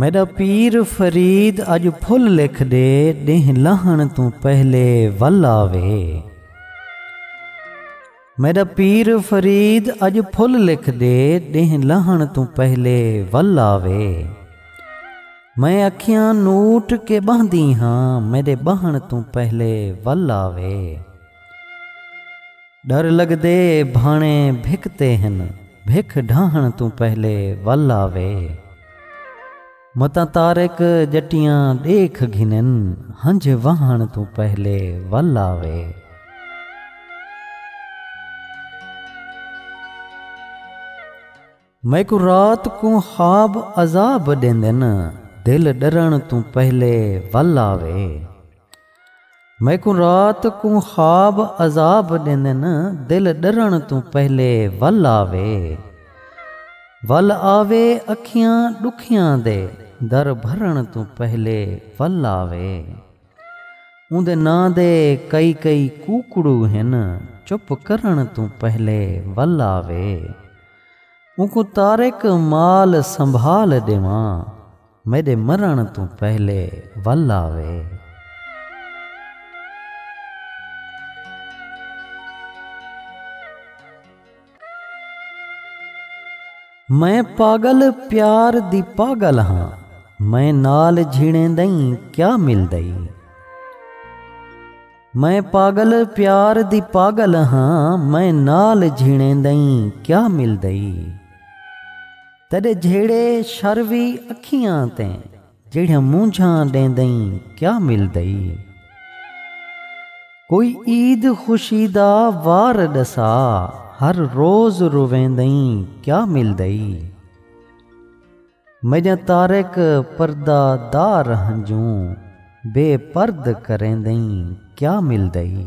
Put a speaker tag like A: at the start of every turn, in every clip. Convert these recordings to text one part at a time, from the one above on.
A: میݙا پیر فرید اڄ پھل لکھ ݙے ݙینہہ لہݨ توں پہلے ول آوے میݙا پیر فرید اڄ پھل لکھ ݙے ݙینہہ لہݨ توں پہلے ول آوے میں اکھیاں نوٹ کے ٻہندی ہاں میݙے ٻہݨ توں پہلے ول آوے ݙر لڳدے بھاݨے بھکتے ہن بھک ݙاہݨ توں پہلے ول آوے۔ متاں طارق ڄٹیاں ݙیکھ گھنن ہنج وہݨ توں پہلے ول آوے۔ میکوں رات کوں خواب عذاب ݙیندن دل ݙرݨ توں پہلے ول آوے۔ میکوں رات کوں خواب عذاب ݙیندن دل ݙرݨ توں پہلے ول آوے ول آوے اکھیاں ݙکھیاں دے در بھرݨ توں پہلے ول آوے اوندے ناں دے کئی کئی کوکڑو ہن چپ کرݨ توں پہلے ول آوے اونکوں طارق مال سنبھال ݙیواں۔ میݙے مرݨ توں پہلے ول آوے۔ میں پاڳل پیار دی پاڳل ہاں۔ میں نال جھیݨیندئیں کیا ملدئی۔ میں پاڳل پیار دی پاڳل ہاں۔ میں نال جھیݨیندئیں کیا ملدئی۔ تیݙے جھیڑے شر وی اکھیاں تے جیڑھیاں مونجھاں ݙیندئیں کیا ملدئی کوئی عید خوشی دا وار ݙسا ہر روز رویندئیں کیا ملدئی میݙیاں تارک پردہ دار ہنجوں بے پرد کریندئیں کیا ملدئی۔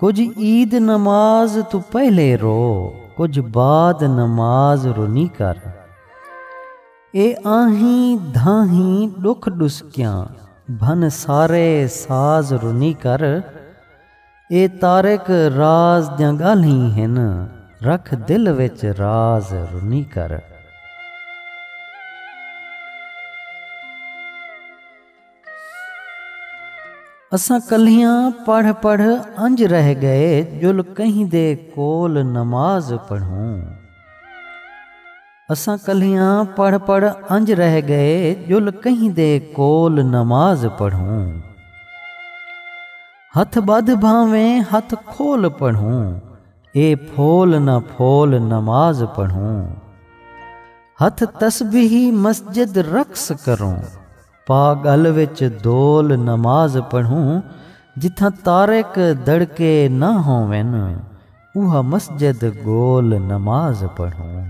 A: کجھ عید نماز توں پہلے رو کجھ بعد نماز رونی کر اے آہیں دھاہیں ڈکھ ڈسکیاں بھن سارے ساز رونی کر اے طارق راز دیاں گالہیں ہن رکھ دل وچ راز رونی کر۔ اساں کلھیاں پڑھ پڑھ انج رہ گئے جل کہیں دے کول نماز پڑھوں اساں کلھیاں پڑھ پڑھ انج رہ گئے جل کہیں دے کول نماز پڑھوں ہتھ بدھ بھانویں ہتھ کھول پڑھوں اے پھول نہ پھول نماز پڑھوں۔ ہتھ تسبیح مسجد رقص کروں پا گل وچ دول نماز پڑھوں جتھاں تارک دڑکے نہ ہوون اوہا مسجد گول نماز پڑھوں۔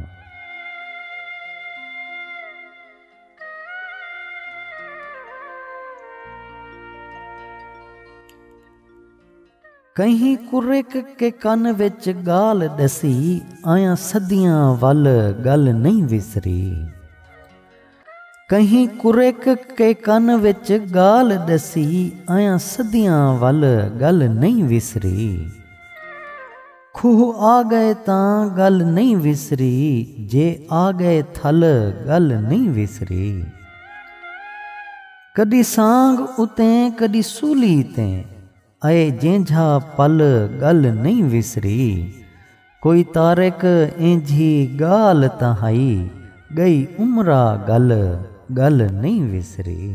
A: کہیں کرک کے کن وچ گال ڈسی آیاں صدیاں ول گل نئیں وسری کہیں کرک کے کن وچ گال ڈسی آیاں صدیاں ول گل نئیں وسری کھوہ آ گئے تاں گل نئیں وسری جے آ گئے تھل گل نئیں وسری۔ کݙی سانگھ اتے کݙی سولی تے اے جینجھا پل ڳل نئیں وسری کوئی طارق اینجھی ڳال تاں ہئی ڳئی عمرا ڳل ڳل نئیں وسری۔